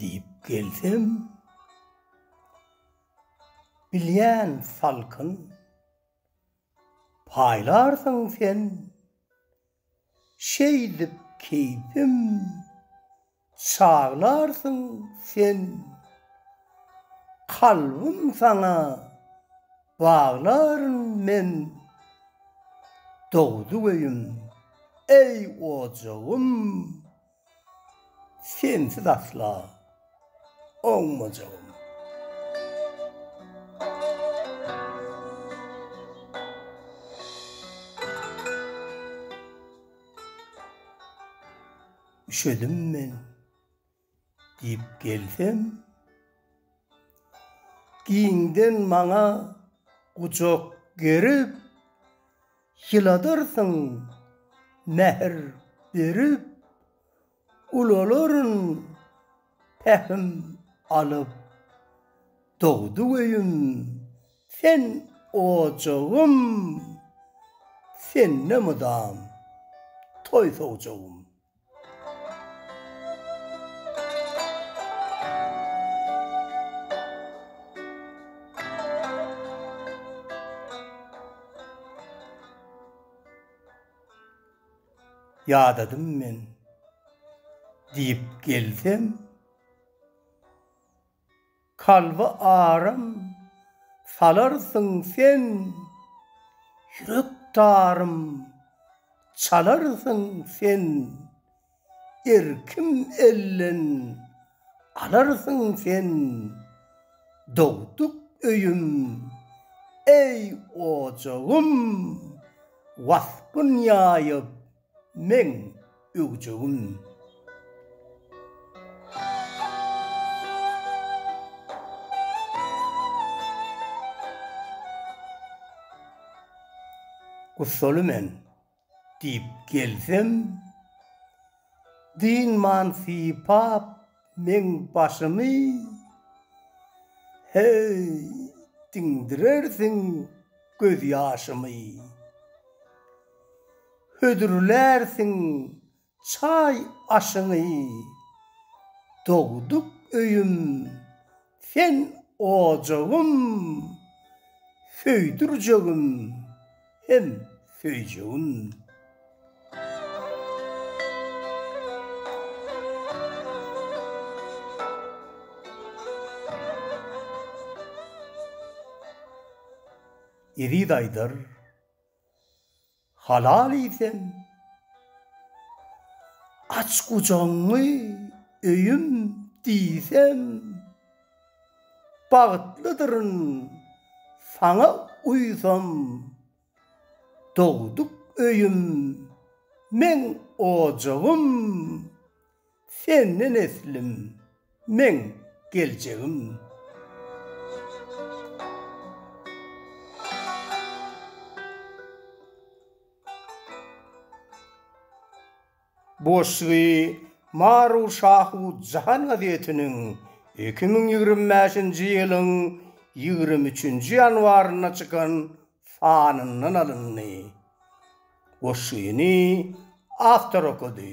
Diýip gelsem, bilýän salkyn, paýlarsyň sen. Şeýdip keýpim çaglarsyň sen. Kalbym saňa baglaryn men. Dogduk öýüm, eý ojagym. Sensiz asla oňmajagym. Üşedim men diýip gelsem, giňden maňa gujak gerip, Ýyladarsyň mähir berip, ulalaryn pähim alyp. Dogdy öýüm, sen ojagym, sende mydam toý-sowjagym. Ýadadym men, diýip gelsem. Kalba aram salarsyň sen, Ýürek tarym çalarsyň sen, Erkim elden alarsyň sen, Dogduk öýüm, eý ojagym, Waspyn ýaýyp meň öwjegim. Gussaly men diýip gelsem, dynman sypap Meň başymy heý diňdirersiň göz ýaşymy Hödürlärsiň çaý aşyňy Dogduk öýüm Sen ojagym, söýdürjegim hem söýjegim. Eziz Aýdar, Halal iýsem, aç gujagyňy öýüm diýsem, bagtlydyryn, saňa uýsam, dogduk öýüm, meň ojagym. Sen ne neslim, meň geljegim. Boşsuwy Maru Şahu Jahan gazetiniň iki müň ýigrimi bäşinji ýylyň ýigrimi üçünji ýanwarynda çykan sanyndan alyndy. Goşgyny awtor okady.